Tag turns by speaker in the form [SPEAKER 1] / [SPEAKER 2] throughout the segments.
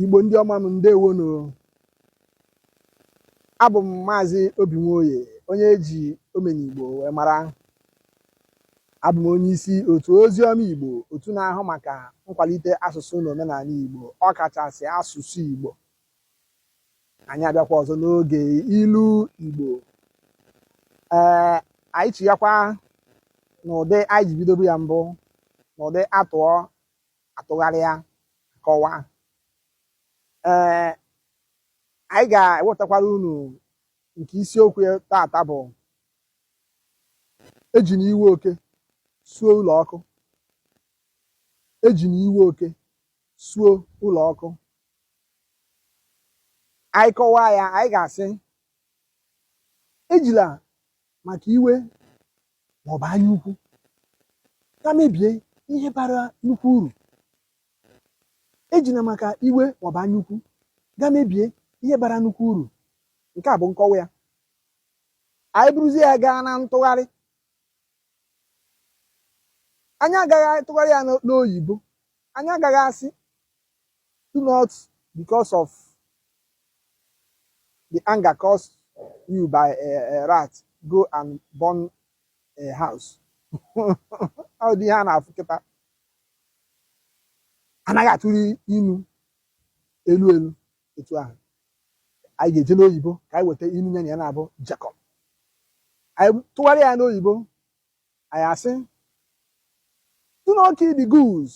[SPEAKER 1] igbo ndị ọma m ndewonu abụ m maazị obi nwoye onye eji omenigbo wee mara abụ m onye isi otu ozi ọma igbo otu na-ahụ maka nkwalite asụsụ na omenaanị igbo ọkachasị asụsụ igbo anyị abịakwa ọzọ n'oge ilu igbo ee anyị chighakwa n'ụdị anyị ji bidobu ya mbụ n'ụdị a tụọ a tụgharịa kọwaa ee anyị ga-ewetakwara unu nke isiokwu ya tata bụ ejina iwe oke suo ụlọ ọkụ ejina iwe oke suo ụlọ ọkụ anyị kọwaa ya anyị ga-asị ejila maka iwe ma ọ bụ anya ukwu gaa mebie ihe bara nnukwu uru ejila maka iwe ma ọ bụ anya ukwu gaa mebie ihe bara nnukwu uru nke a bụ nkọwa ya anyị buruzie ya gaa na ntụgharị anyị agaghị atụgharị ya n'oyibo anyị agaghị asị Do not, because of the anger caused you by a, a rat, go and burn a house. Ụdị ihe a na-afụ kịta. Anaghị atụgharị inu elu elu etu ahụ. Anyị ga-eje n'oyibo ka anyị weta inu ya na ya naabọ jekọ. Anyị tụgharịa ya n'oyibo, anyị asị, do not kill the goose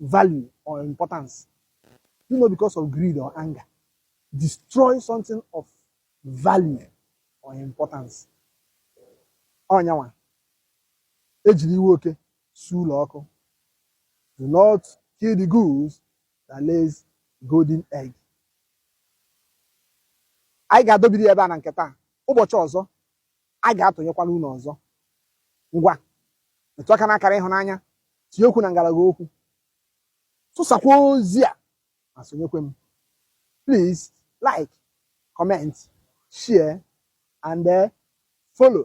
[SPEAKER 1] value or importance do not because of greed or anger destroy something of value or importance ọ nya nwa ejiri iwe oke suo ụlọ ọkụ do not kill the goose that lays golden egg anyị ga-adọbiri ya ebe a na nke taa ụbọchị ọzọ a ga-atụnyekwara unu ọzọ ngwa metụ aka n'akara ịhụnanya tinye okwu na ngalaba okwu tụsakwa ozi a ma sonyekwe m please like comment share and uh, follow